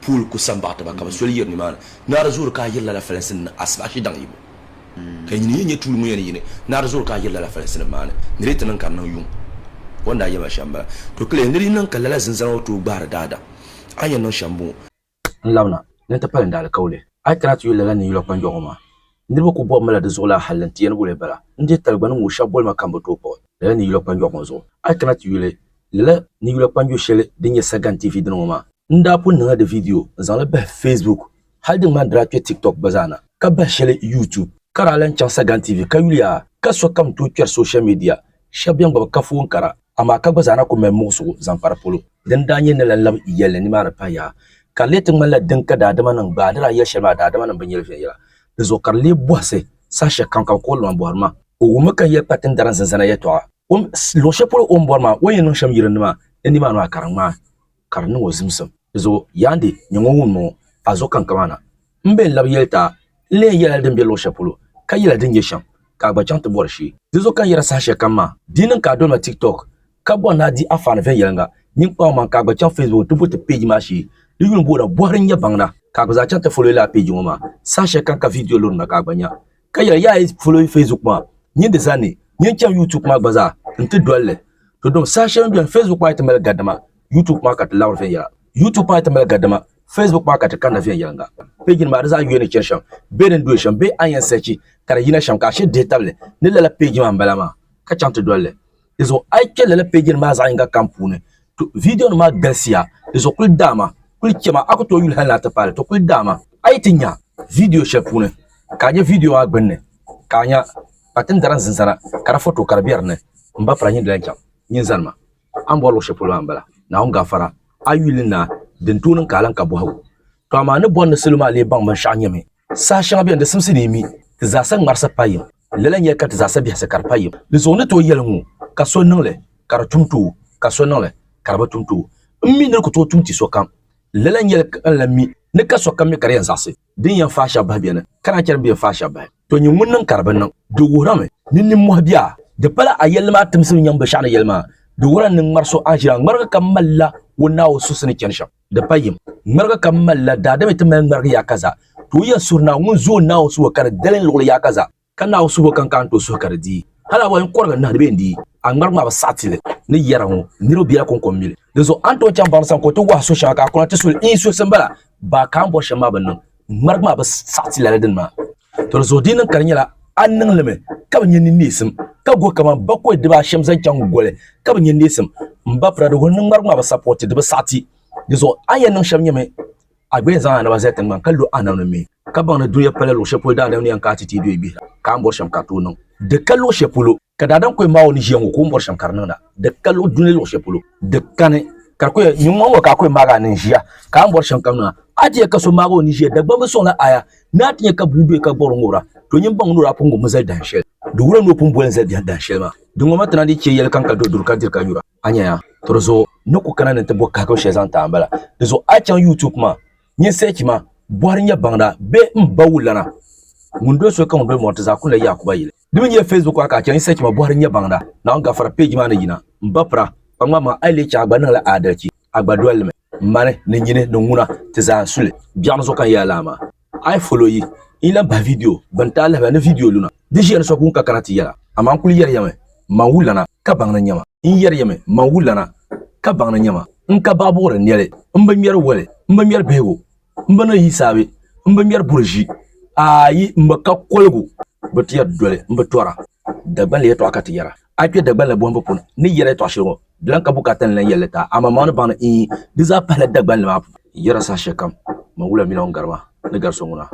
Pool ku san baɣi ti ba, ka bɛ soli yiri nimaani. Naari zoori ka a yiri lala falinsi ni ni asibahi shidaŋ yibu. Ka yi nyini yi nya tuuli ŋun yɛn ni yini, naari zoori ka a yiri lala falinsi nim maani, ni di yi ti niŋ ka di niŋ yuŋ. O ni daa yɛli ma shɛm m-bala. To kiliya, ni di yi niŋ ka lala zinzana ŋɔ tooi gbahiri daadam, a ni yɛn niŋ shɛm m-bɔŋɔ. N labina, ni n ti pali n daalikauli, a yi kana ti yuli lala ninyula kpanjɔɣu ŋɔ maa. Niriba ku bɔbimi la di zuɣu lala hal ni ti yɛn wul li bala. N deei taligbani ŋɔ shɛba boli ma ka m bi tooi kpuɣi lala ni yula kpanjɔɣu ŋɔ zuɣu. A yi kana ti yuli lala ni yula kpanjo shɛli din nyɛ Sagan TV dini ŋɔ maa, n daa pun niŋla di viidiyo n-zaŋ li bahi Facebook hal di ŋmani di daa kpe TikTok gba zaa na ka bahi shɛli YouTube. Ka daa lan chaŋ Sagan TV ka yuliya ka sokam tooi kpɛri soshal midia shɛba bɛn gbabi kafoon kara. amaa ka gba zaa na kul mali muɣisigu zaŋ kpa di polo. Din daa nyɛ ni lan lab yɛlli nimaani pah yaha, ka di lee ti ŋmanila din ka daadimanim gbaai di daa yɛl shɛli maa daadimanim bi nyɛli viɛnyɛla di zuɣu, ka di lee bɔhisi saha shɛl kam ka bɛ kɔhiri lɔŋ bɔhiri ma. O wummi ka n yɛli kpa tindara n zinzana yɛtɔɣa, luɣ shɛl polo o ni bɔri maa, o ni yɛn niŋ shɛm yirinima ni nimaani maa ka di ŋmaai. ka di niŋ o zimsim. Dizuɣu Yandi nyɛ ŋun wum ŋɔ a zuɣu kaŋ kaman na. M be n-lab yɛli ti a, n leei yɛla li din be luɣ shɛli polo, ka yɛla din nyɛ shɛm, ka a gba chaŋ ti bɔri shee. Dizuɣu ka n yɛra saha shɛli kam maa, di yi niŋ ka a doli ma TikTok, ka bɔri ni a di anfaani viɛnyɛliŋga mini kpaŋmaŋ ka a gba chaŋ Facebook nti voti peeji maa shee, di yuli boona Bɔhiri n-nyɛ baŋda, ka a gba zaa chaŋ ti fɔloyila a peeji ŋɔ maa. Saha shɛli kam ka viidiyo lurimda ka a gba nya. ka yɛli yaa yi folo facebook maa nyin di zani nyin chaŋ youtube maa gba zaa n ti dolli to dɔm saha shɛli n beni facebook maa yi ti mali gadima youtube maa ka ti labiri viɛnyɛla youtube maa yi ti mali gadima facebook maa ka ti kanna viɛnyɛlinga page nim maa di zaa yuya ni chani shɛm bee din doli shɛm bee a ni yɛn searchi ka di yina shɛm ka a shiri dihi tabili ni lala page maa n bala maa ka chaŋ ti dolli Di zuɣu a yi kpɛ lala peeji nim maa zaɣ yinga kam puuni to viidiyo nim maa galisiya di zuɣu kuli daama kuli chɛma a ku tooi yuli hali ni a ti paali to kuli daama a yi ti nya viidiyo shɛli puuni ka a nyɛ viidiyo maa gbunni ka a nya kpatindara ni zinzana ka di foto ka di bɛ dinni n ba pira nyin di lahi chaŋ nyin zani ma a ni bɔri luɣu shɛli polo maa n bala Naawuni gafara a yi yuli naa din tooi niŋ ka a lahi ka bɔhigu to amaa a ni bɔri ni salo maa lee baŋ binshɛɣu nyɛmi saha shɛŋa bɛni di simsi ni yi mi ti zaasa ŋmarisi payim Lala n-nyɛ ka ti zaasa bihisi ka di pa yim. Di zuɣu ni tooi yɛli ŋɔ, Ka so niŋ li, ka di tum ti o, ka so niŋ li, ka di bi tum ti o. M mi ni di ku tooi tum ti sokam. Lala n-nyɛli ka n lan mi ni ka sokam mi ka di yɛn zaɣisi din yɛn faai shɛba bahi beni, ka naan chɛ din bi yɛn faai shɛba bahi. To nyin ŋun niŋ ka di bi niŋ, di wuhirimi ni nimmɔhi bia. Di pala a yɛlli maa timsim n-nyaŋ binshɛɣu ni yɛli maa, di wuhirila ni ŋmari so a ʒiya ŋmarigi ka malila o naai o suhisi ni chani shɛm. Di pa yim, ŋmarigi ka m mali la, daadama yi ti mali ŋmarigi yaakaza, tooi yɛn suhi Naawuni ŋun zooi Naawuni suhu ka di dalim luɣili yaakaza. Ka Naawuni suhu ka n ka ni tooi suhi ka di dii. Hal a bɔhi n kɔrigi n nahi di bee n-dii, a ŋmarigi maa bi saɣi ti li ni yɛra ŋɔ, niriba biɛla ko n-ko m-mili. Dinzuɣu a ni tooi chaŋ baŋda sani ka o ti wɔhi suhi shɛŋa ka a kuna ti su li? Iin suhisi m-bala, baa ka a ni bɔri shɛm maa bi niŋ, ŋmarigi maa bi saɣi ti lala dini maa. Toli zuɣu di niŋ ka di nyɛla a niŋlimi ka bi nyɛ ni neesim ka go kamani bakɔi dibaashɛm zaŋ chaŋ goli ka bi nyɛ neesim m ba Prado ŋun niŋ ŋmarigi maa bi sapɔti di bi saɣiti di zuɣu a ni yɛn niŋ shɛm nyɛmi a gba yɛn zaŋ a naba zali tiŋgbani ka lo a nam ni mi ka baŋ ni dunia pala luɣushɛli polo daadam ni yɛn kana ti ti yi duya gbihira ka a ni bɔri shɛm ka a tooi niŋ di ka luɣushɛli polo. Ka daadam kɔhim ma o ni ʒiya ŋɔ ka o ni bɔri shɛm ka di niŋda, di ka luɣ dunli luɣ shɛli polo di kani. Ka di kɔhim nyuŋ ŋɔ ka a kɔhim maag a ni ʒiya ka a ni bɔri shɛm kam niŋda. A ti nya ka so maag o ni ʒiya, Dagbaŋ bi sɔŋla aya ni a ti nya ka bua doya ka gbɔri o ŋubira, to nyin baŋ ni o daa pun ŋubimi zali dahin shɛli. Di wuhiya ni o pun boli n-zali biɛhigu dahin shɛli maa. Di ŋɔ ma ti na dii chɛ yɛli kam ka duri duri ka diri ka nyura, a nya ya? To di zuɣu n ni ku kana ni n ti bɔ kahigiri shɛli zaŋ ti a m-bala. Di zuɣu a chaŋ YouTube maa, nyin search ma, Bɔhiri Nyɛ Baŋda bee M ba wulana ŋun doli soli ka ŋun doli mɔri ti zaa kuli la Yaakuba yili. Di mi nyɛ Facebook a ka a chɛ n sɛchima bɔhiri nyɛ baŋda. Naawuni gafara page maa ni yina. M ba pira, kpa ŋma ma a yi leei chɛ a gba niŋla aadalichi. A gba doli li mi. Mani, ni nyini, ni ŋuna, ti zaa n su li. Biɛɣu ni zuɣu ka n yɛla lala maa. A yi follow yi, n yi lan bahi video bɛ ni ti a lahiba ni video luna. Di ʒiya ni so guŋ ka kana ti yɛla. Amaa n kuli yɛri ya mi, M ma n-wulana, ka baŋ ni nyɛma. N yɛri ya mi, M ma n-wulana, ka baŋ ni nyɛma. N ka baɣibuɣiri nɛli, m bi ŋmɛri woli, m bi ŋmɛri bihigu. N bi ni yi saabe, n bi ŋmɛri buri ʒi, ayi, m bi ka koligu, bi ti yɛri doli, m bi tɔra. Dagbanli yɛtɔɣa ka ti yɛra a kpe Dagbanli bɔhimbu puuni. Ni yɛri yɛtɔɣ shɛli ŋɔ, di lan ka bu ka a ti ni lan yɛli li ti a, amaa maŋ ni baŋ ni iin di zaa pahila Dagbanli maa puuni. N yɛra saha shɛli kam, Maŋ wula mi la ŋun gari ma, ni gari so ŋuna,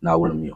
Naawuni m-mi o.